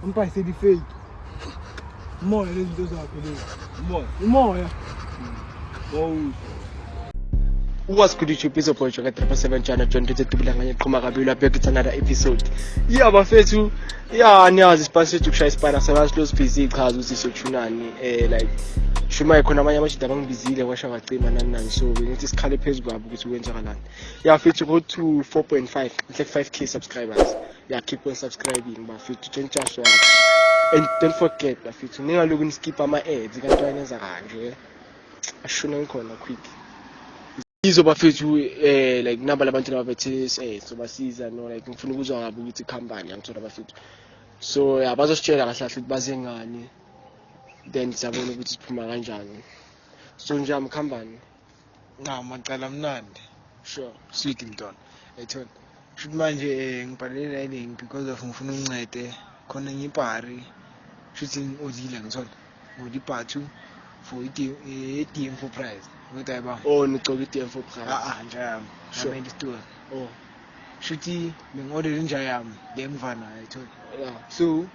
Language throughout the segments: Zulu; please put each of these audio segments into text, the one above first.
Mpa isedi fake. Umoya lezi zinto zakho lezi. Umoya. Umoya. Wawusho. What's good YouTube is your boy Joker 7 Channel John Tete Tubulanganye Qhuma Kabila back it's another episode. Yeah bafethu ya niyazi isipani sethu kushaya isipani asabazi close busy ichaza ukuthi sothunani eh like shuma khona abanye abashida bangibizile kwasha ngacima nani nani so bengithi sikhale phezu kwabo ukuthi kwenzakalani ya fithi go to 4.5 like 5k subscribers ya keep on subscribing bafithi don't just watch and don't forget bafithi ningaloku niskipha ama-ads kanti wayenenza kanje ashune ngikhona quick yizo bafethu eh like naba labantu nababethe eh so basiza no like ngifuna ukuzwa ngabo ukuthi company yangithola bafethu so yeah bazositshela kahle kahle ukuthi baze ngani then siyabona ukuthi siphuma kanjani so nje amkhambani nqama cala mnandi sure sweet mntwana ethona Shuthi manje eh, ngibhalele la link because of ngifuna uncede khona ngibhari shuthi ngiodile ngithola ngodi bhathu for i-DM for prize kodwa yaba oh nigcoka i-DM for prize ah ah nja yami sure i store oh shuthi bengiorder inja yami le mvana ayithola yeah so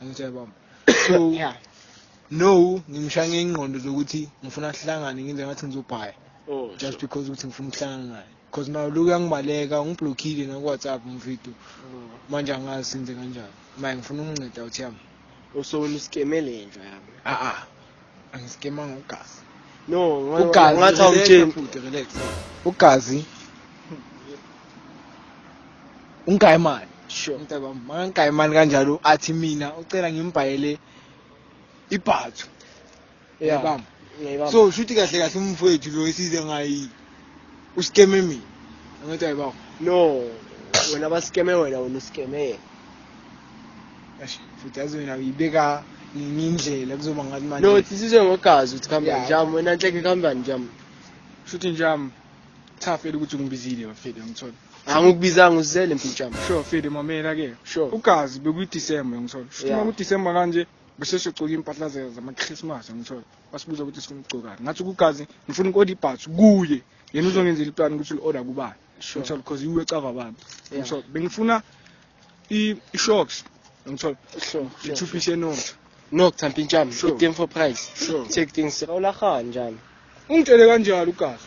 angithe baba so yeah no ngimshaya ngengqondo zokuthi ngifuna sihlangane ngenze ngathi ngizobhaya oh just because ukuthi ngifuna ukuhlangana naye because nayo loku yangibaleka ungiblockile naku-whatsapp umvido mm. manje angazi senze kanjani maye ngifuna ukunginceda uthi yami usowelusikeme le nja yami a-a angisikemanga ugazi no Ugazi, ngathi awumtsheni relax, bhuti, relax. ugazi ungayimani Sure. mntaba makangayimani kanjalo athi mina ucela ngimbhayele ibhathu Yeah. Uyabamba? Ngiyayibamba. so shuthi kahle kahle umfowethu lo esize ngayi uskeme mina angithi hayi bawo no wena baskeme wena wena uskeme yena Eish, futhi yazi wena uyibeka ngenye indlela kuzoba ngathi manje no thi sizwe ngogazi ukuthi khamba Yeah. njami wena nhleke khambani njami shuthi njami thafele ukuthi ungibizile bafethu ngithola angikubizanga uzizele mfethu njami sure fethu mamela ke sure ugazi bekuyidisemba ngithola shuthi Yeah. uma kudisemba kanje bese siyocoka iy'mpahla ze- zama-christmas ngithola wasibuza ukuthi sifuna ukugcokani ngathi kugazi ngifuna uku-order ibhathi kuye yena uzongenzela iplani ukuthi li-order kubani ngithola because iwe cava abantu ngithola bengifuna i-shocks ngithola i-two piece enotho nok thampintshami i-game for price check things rawulahaa njani ungitshele kanjalo ugazi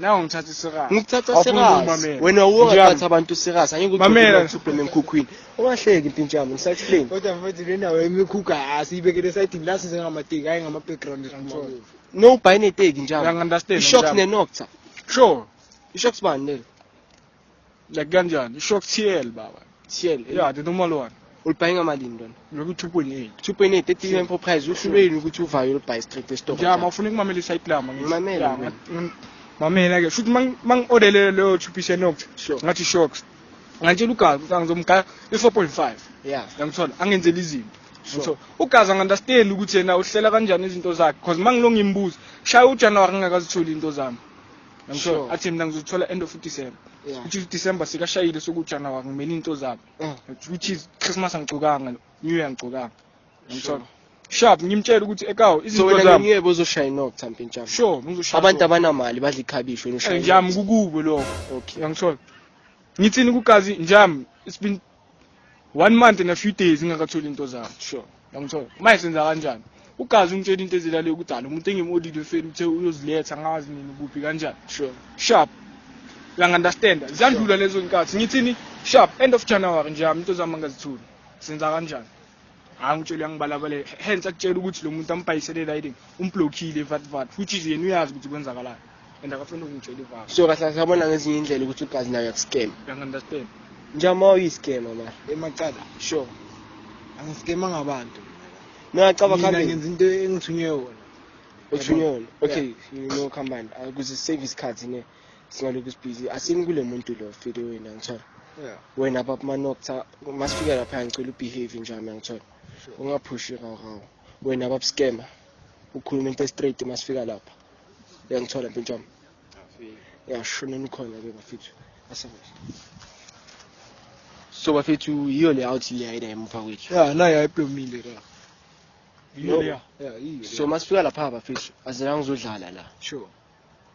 nawe ngithatha isirasi ngikuthatha Awufuni serious ukumamela. wena Nje wongathatha yami. abantu serious angeke Mamela. uthubhele enkhukhwini ungahleki impintsha yami ngisakuhleni kodwa mfethu le ndawo yemikhukha asiyibekele esayidini la size ngamateki hhayi ngama-background control no ubhayi neteki njalo Uyangi-understand, ishocks njalo. nenocta sure ishocks bani lelo like kanjani isho kuthiel baba thiel ya the normal one ulibhaye ngamalini lona lokhu 2.8 2.8 ethi info price usho yini ukuthi uvayo ulibhaye straight estock ja mafuna ukumamela isite lama ngimamela mamela ke futhi mang orderle leyo 2 piece nox ngathi shocks ngantshela ugazi ukuthi angizomgaya i-4.5 yeah yangithola angenzela izinto so ugazi angunderstand ukuthi yena uhlela kanjani izinto zakhe because uma ngilongimbuza shaya ujanuwari ngingakazitholi into zami Yangithola? Sure. Athi mina ngizothola end of December. Yeah. Which is December sikashayile soku January ngimele into zami. Eh. Which is Christmas angigcokanga, New Year angigcokanga. Yangithola? Sharp ngimtshela ukuthi ekawo So izinto wena zami. ngeke bozoshaya inok thambe njalo. Sure, ngizoshaya. Abantu abanamali badla ikhabishi wena ushaya. Eh, Njami kukubo lokho. Okay. Yangithola? Ngithini kugazi njami? It's been one month and a few days ngingakatholi into zami sure yangithola manje senza kanjani ugazi ungitshela into ezilale kudala umuntu engimodile fela uthe uyoziletha ngazi nini kuphi kanjani sure sharp lang understand ziyandlula lezo nkathi ngithini sharp end of january nje yami into zami angazithuli senza kanjani hayi ngitshela uyangibalabalela hence akutshela ukuthi lo muntu ambhayisele riding umblockile evatvat which is yena uyazi ukuthi kwenzakalayo and akafuni ukungitshela ivaka so kahle sabona ngezinye indlela ukuthi ugazi nayo yakuscam uyangi-understand njama uyiscama mara emacala sure angisikema ngabantu nacaba mina ngenza into engithunywe yona uthunywe yona okay you know company akuze save isikhathi ne singalokhu sibhizi asini kule muntu lo fide wena ngithola yeah wena baba manokutha masifika lapha ngicela ubehave njami ngithola Sure. ungaphushi rawu rawu wena baba scammer ukhuluma into straight masifika lapha uyangithola mpintshami Afike. yashona nikhona ke bafethu asabe so bafethu yiyo le out le ayida emuva kwethu ya nayo ayiplomile ka No. yiyo leya ya yiyo so masifika lapha bafethu azelanga uzodlala la sure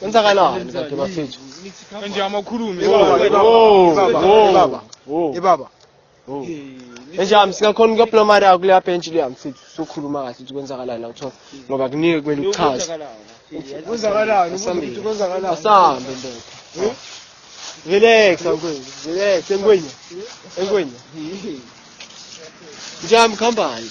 Kwenzakalani kanti bafethu? Nje amakhulumi. Ibaba. Ibaba. Enjami singakhona ukuyophula mari yakho leya bench leya mfethu sokhuluma kahle ukuthi kwenzakalani la kuthiwa ngoba kunike kumele uchaze. Kwenzakalani? Ubuthi kwenzakalani? Asambe ndoda. Relax angwenye. Relax engwenye. Engwenye. Njami khambani.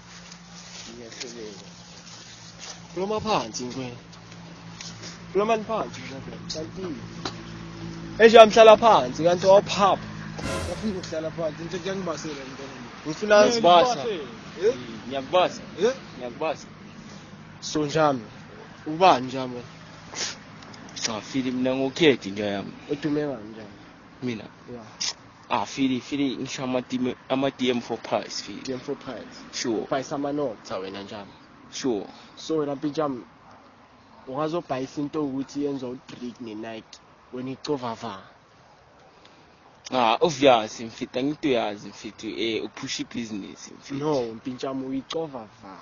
Ngiyahluleka. Kuloma phansi ngwe. Kuloma phansi ngwe. Kanti. Esho amhlala phansi kanti waphapha. Ngifuna ukuhlala phansi into engibasela ngibona. Ngifuna ngibasa. Eh? Ngiyakubasa. Eh? Ngiyakubasa. So njami. Ubani njami? Safile mina ngokhethi nje yami. Udume kanjani? Mina. Yeah. Ah, Philly, Philly, ngisho ama-DM ama-DM for price, Philly. DM for price. Sure. Price amanoma. Cha wena njami. Sure. So wena mpintshami ungazobhayisa into ukuthi yenza u-drink ne-night wena icovava. Ah, obvious mfethu angithi uyazi mfethu eh uphusha ibhizinisi mfethu. No, mpintshami uyicovava.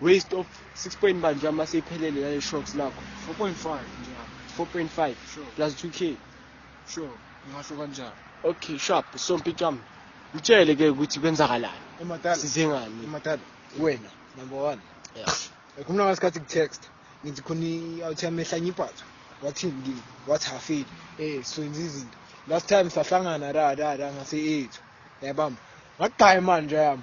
Waste of 6 point manje uma seyiphelele lale shocks lakho. 4.5 nje. 4.5 sure. plus 2k. Sure, ngasho kanjalo. Okay, sharp. So mpicam. Utshele ke ukuthi kwenzakalani. Emadala. Size ngani? Emadala. Wena number 1. Yeah. Ekhuluma ngasikhathi ku-text. Ngithi khona i-out yami ehlanye ibhatha. Wathini kimi? Wathi hafile. Eh, swenza izinto. Last time sahlangana ra ra ra ngase ethu. Yabamba. Ngagaya manje yami.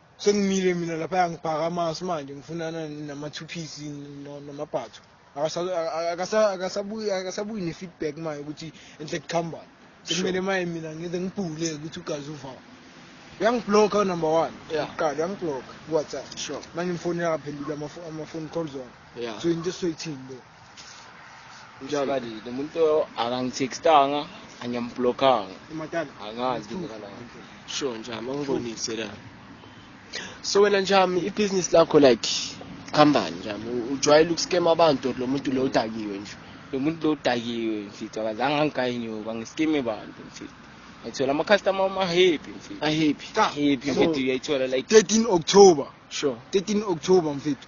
Sengimile mina lapha ngibhaka amasu manje ngifunana nama-two-piece namabhatho. Akasabuyi ne-feedback manje ukuthi enhle kuhambani. Sekumele manje mina ngize ngibhule ukuthi ugazi uvama. Uyangibhlokha unumber one. Uqala uyangibhlokha kuWhatsApp. Manje ngimfonela akaphenduli ama-phone calls wami. So into esizoyithini leyo? njalo lo muntu akangithextanga angiyamblockanga angazi ngikalana sure njami angibonise la so wena njami ibhizinisi lakho like khambani njami ujwayele ukuskema abantu lo muntu lo udakiwe nje lo muntu lo udakiwe mfithu akazange angigaye nyoka ngiskeme bantu mfithu ngithola ama-customer ama-happy mfethu ahappy happy mfethu uyayithola like 13 october sure 13 october mfethu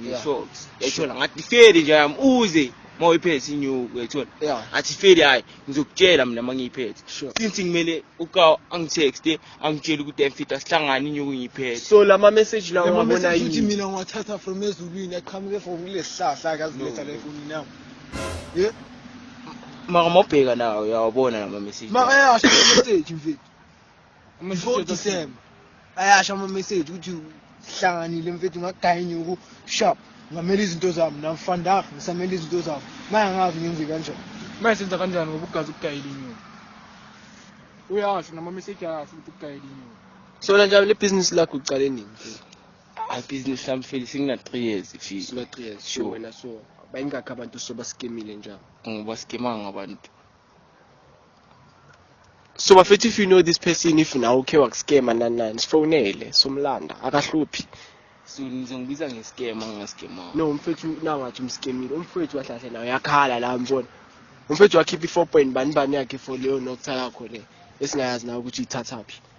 ngisho yayithola ngathi ifeli nje yami uze uma uyiphethe inyuku uyayithola athi ifeli hhayi ngizokutshela mina uma ngiyiphethe since ngimele uka angithexte angitshele ukuthi emfita sihlangane inyuku ngiyiphethe so la ma-message lawo ngabona yini mina ngiwathatha from ezulwini aqhamuke from kule sihlahla ke aziletha la efonini yami ye maka mawubheka nawo uyawabona la ma-message makayasho message mfethu Mfo December. Ayasha ama message ukuthi sihlanganile mfethu ngagaya inyuku sharp. Ngamela izinto zami namfandak ngisamela izinto zami. Maya ngazi ngenze kanjani. Maya senza kanjani ngoba ugazi ukugayela inyuku. Uyasho nama message ayasho ukuthi ukugayela inyuku. Sona njalo le business lakho uqale nini? I business sami feli singina 3 years fee. Singina 3 years. Sure wena so. Bayingakho abantu sobaskemile njalo. Ngoba skemanga abantu. so bafethu if you know this person if nawe ukhe wakuscama nani nani sifonele somlanda akahluphi so nizongibiza ngescam angingascam no umfethu nangathi umscamile umfethu kahle kahle nawe yakhala la mbona umfethu wakhipha i-four point bani bani yakhe for leyo nokutha yakho le esingayazi nawe ukuthi ithathaphi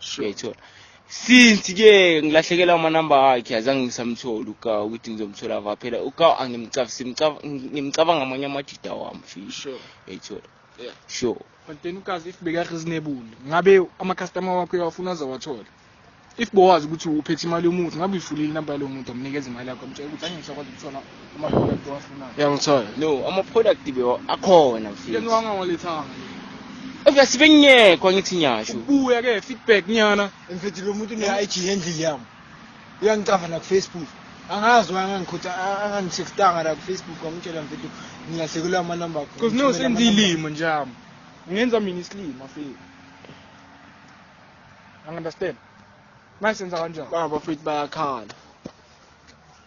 Sure. since ke ngilahlekelwa amanamba akhe azange ngisamtholi ukawu ukuthi ngizomthola va phela ukawu angimcabanga amanye amajida wami fisho yayithola sure but then ukazi if bekareasonable ngabe amacustomer wakho uyawafuna azawathola if bowazi ukuthi uphethe imali yomuntu ngabe uyifulile inamba yalowo muntu amnikeza imali yakho amtshela ukuthi angisakwazi ukuthola ama-product owafunayo uyangithola no ama-product be akhona mfethu yeniwanga ngolethanga Eka sibengekho angithi nyasho ubuya ke feedback nyana mfethu lo muntu ne-ig endlini yami uyangicava nakufacebook angazi wangangikhutha angangitextanga la kufacebook wangitshela mfethu ngilahlekelwa amanamba akho because no senza ilimo njami ngenza mina isilima fethu angi understand manje senza kanjani baba fethu bayakhala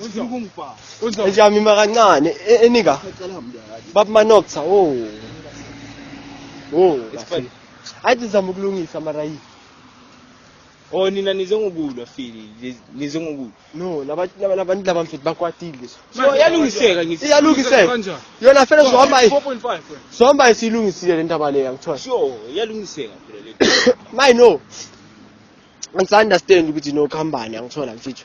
Ufuna ukungibhala. Uzo. Ejamima kancane e- enika Ngicela mndali. bab manokza oh. Oh. It's funny. Athi zama ukulungisa mara yi. Oh nina nize ngokulwa fili. niz- Nize ngokulwa. No, laba laba- labantu laba mfethu bakwatile. So yalungiseka ngithi. Iyalungiseka. Kanjani? Yona fela zohamba i- 4.5 wena. zohamba isilungisile le ndaba leya ngithola. Sure, yalungiseka phela le. Mine no. Ngisa understand ukuthi no khambani angithola mfethu.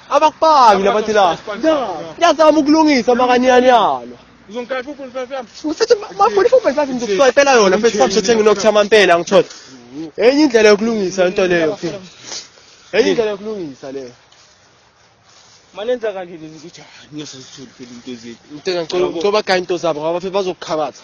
Abakubambi labathi la. Yazama ukulungisa makanyana yalo. Uzongikaya 4.5 yami. Usethi mafuni 4.5 ngizokuswayipela yona mfethu samshethe nginokutha amampela ngithola. Enye indlela yokulungisa into leyo. Enye indlela yokulungisa leyo. Manenza kanje lezi ukuthi ngiyosizithula phela into zethu. Ngicela ngicela ngicela bagaya into zabo ngoba phela bazokukhabatha.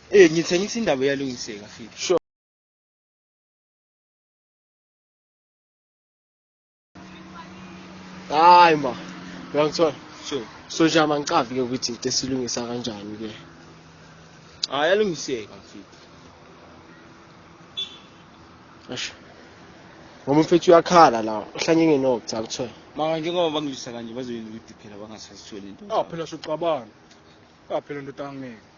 Eh ngithengisa indaba iyalungiseka fika. Sure. Hayi ma. Uyangithola? Sure. So nje amangicavi ke ukuthi into esilungisa kanjani ke. Hayi yalungiseka fika. Asho. Ngoba mfethu uyakhala la, uhlanye ngenoku cha kuthiwa. Maka njengoba bangilisa kanje bazoyini ukuthi phela bangasazitholi into. Ah phela soxabana. Ah phela ndoda angeke.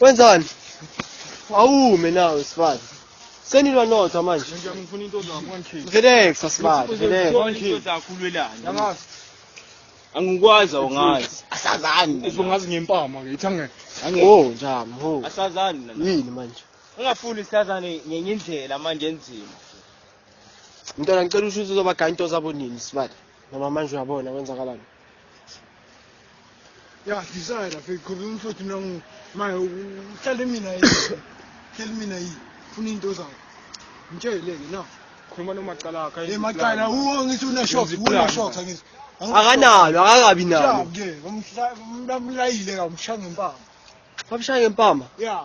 Wenzani? Awume nawe sifana. Senilwa nodwa manje. Ngifuna into zakho one Relax asibali. Relax. Into zakho ulwelani? Yangazi. Angikwazi awungazi. Asazani. Uzongazi ngempama ke ithangeke. Oh njami ho. Asazani nana. Yini manje? Ungafuni sazane ngenye indlela manje enzima. Mntwana ngicela usho ukuthi uzobagaya into zabo nini sibali. Noma manje uyabona kwenzakalani. Ya sizaya lapha eqhuba umfuthu nangu maye uhlale mina yini. Hlale mina yini. Funa into zayo. Ngitsheleke na. Khuluma nomacala akhe. Eh macala uwo ngithi una short, una short ngithi. Akanalo, akakabi nalo. Ke umhla umlamlayile ka umshanga impama. Wamshaya ngempama? Yeah.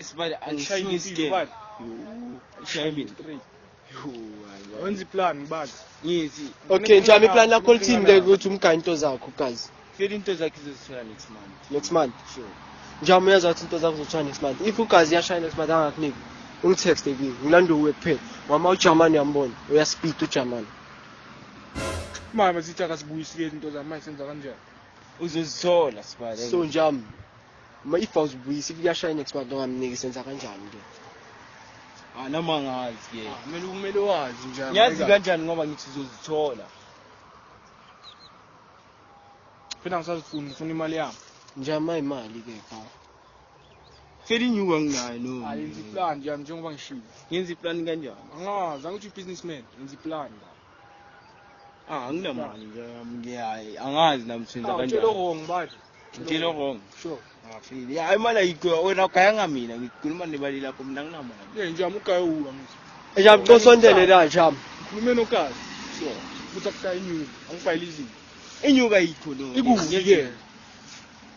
Isibali angishayile impilo bali. Ushayile impilo. Wenza iplan bali. Ngithi. Okay, njami iplan lakho lithini ke ukuthi umgane into zakho guys. Fela into zakhe izosithola next month. Next month. Sure. Njami uyazi ukuthi into zakho zothola next month. If ugazi yashaya next month angakuniki. Ungitext ekini. Ngilanda uwe kuphela. Mama uJamani uyambona. Uyaspeed uJamani. Mama sithi akasibuyisile into zami manje senza kanjani? Uzozithola sibale. So njami Ma if awuzibuyisi kuyashaya next month ongamniki senza kanjani ke? Ah noma ngazi ke. Ah, kumele kumele wazi nje. Ngiyazi kanjani ngoba ngithi uzozithola. Phela ngisazifuna ngifuna imali yami. Njama imali ke cha. Feli nyuka nginayo no. Ayenza iplan nje njengoba ngishilo. Ngenza iplan kanjani? Angazi angithi businessman, ngenza iplan. Ah, anginamali nje ngiyayi angazi namthinta ah, kanjani. Ngitshela wrong manje. Ngitshela wrong. Sure. Ngafile. Ya imali ayikho wena ugaya ngamina ngikhuluma nebali lakho mina nginamali. Eh nje amugaye uwa ngithi. Eja mcosondele la jam. Ngikhulume nokazi. Sure. Futhi akusayinyuka. Angifayile izinto. Inyuka yikho no. Ikuvikela.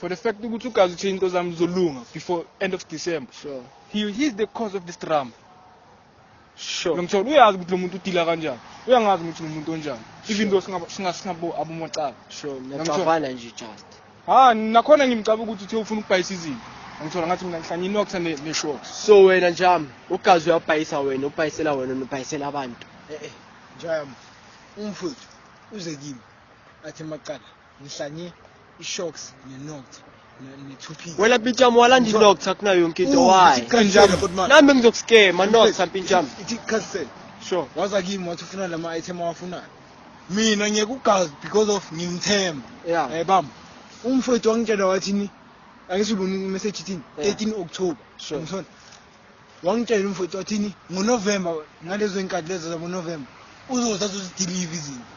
for the fact ukuthi ugazi uthini inkosi yami uzolunga before end of december sure he is the cause of this drama sure ngimthola uyazi ukuthi lo muntu udila kanjani uyangazi ukuthi ngumuntu onjani even though singabo abomacala sure ngiyacabana nje just ha nakhona ngimcaba ukuthi uthe ufuna ukubhayisa izinto ngithola ngathi mina ngihlanye inoxa ne-short so wena njami ugazi uyabhayisa wena ubhayisela wena nobhayisela abantu e-e eh, eh, njami umfowethu uze kimi athi macala ngihlanye ishocks nenokthi wena mpintshami walanda inox akuna yonke into wayi nami ngizokuskema nox mpintshami ithi cancel sure waza kimi wathi ufuna lama item awafunayo mina ngiyekugazi because of ngimthemba yeah eh bam umfowethu wangitshela wathini angisiboni message ithini 13 October ngithona wangitshela umfowethu wathini ngonovemba ngalezo y'nkathi lezo zabonovemba uzoza azozidiliva izinto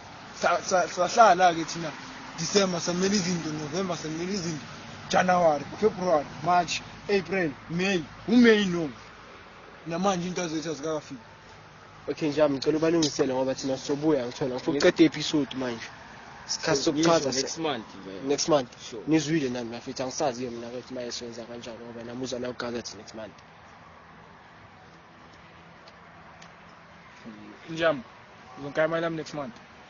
sahlala-ke thina december samela izinto november samela izinto january february march april may umeyi no namanje into azethu azikakafiki Okay nje ngicela ubalungisele ngoba thina sobuya ngithola ngifuna uqeda episode manje. Sikhathi sokuchaza next month next month nizwile nami mafethu angisazi ke mina ukuthi maye senza kanjani ngoba namuzwa la ugazethe next month. Njam, uzongikhaya imali yami next month.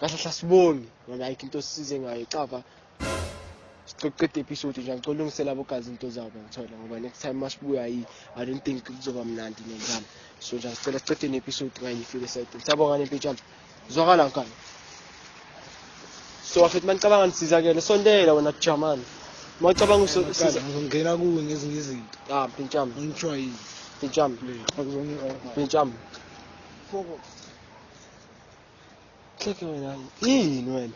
kahle kahle asibongi ngoba ayikho into osisize ngayo cava siqeda episode nje ngicela ulungisela abogazi into zabo ngithola ngoba next time masibuya yi i don't think kuzoba mnandi nendlala so nje sicela siqede ne-episode kanye ifike side siyabonga nempitshana zwakala ngani so afethu manicabanga nisizakele sondela wena jamani macabanga uzongena kuwe ngezinye izinto ah mpintshami ngithiwa yini mpintshami mpintshami Cheke wena yini wena?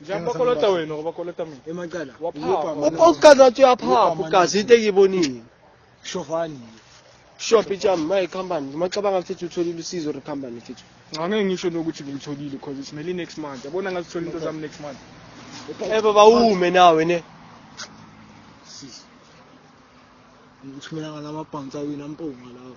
Njani bakolota wena ngoba kolota mina? Emacala. Waphapha. Okokuqala wathi uyaphapha ugazi into engiyibonile. Shovani. Shop ijam my company. Macabanga ukuthi utholile usizo re company futhi. Ngake ngisho nokuthi ngilitholile because it's nearly next month. Yabona ngazithola into zami next month. Eh baba ume nawe ne. Sisi. Ngithumela ngamabhansa wena mpunga lawo.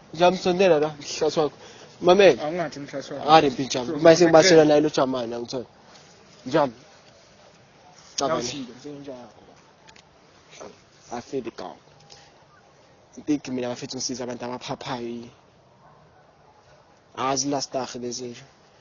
Ngiyamsondela la mhlasi wakho. Mamela. Awungathi mhlasi wakho. Hare mpinjam. Uma sengibashela naye lo Jamani angithola. Njam. Cabana. I feel the gown. Big mina bafethu ngisiza abantu abaphaphayo. Azi last dag lezi nje.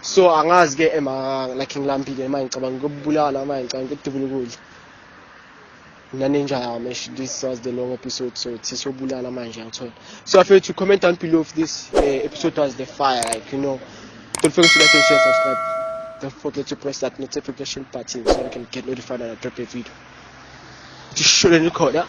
so angazi ke ema like ngilambile manje ngicabanga ukubulala manje ngicabanga ukudubula ukudla nanenja yami esh this was the long episode so sisobulala manje yangithola so after to comment down below if this uh, episode was the fire like you know don't forget to like and share subscribe don't forget to press that notification button so you can get notified when i drop a video just shouldn't record that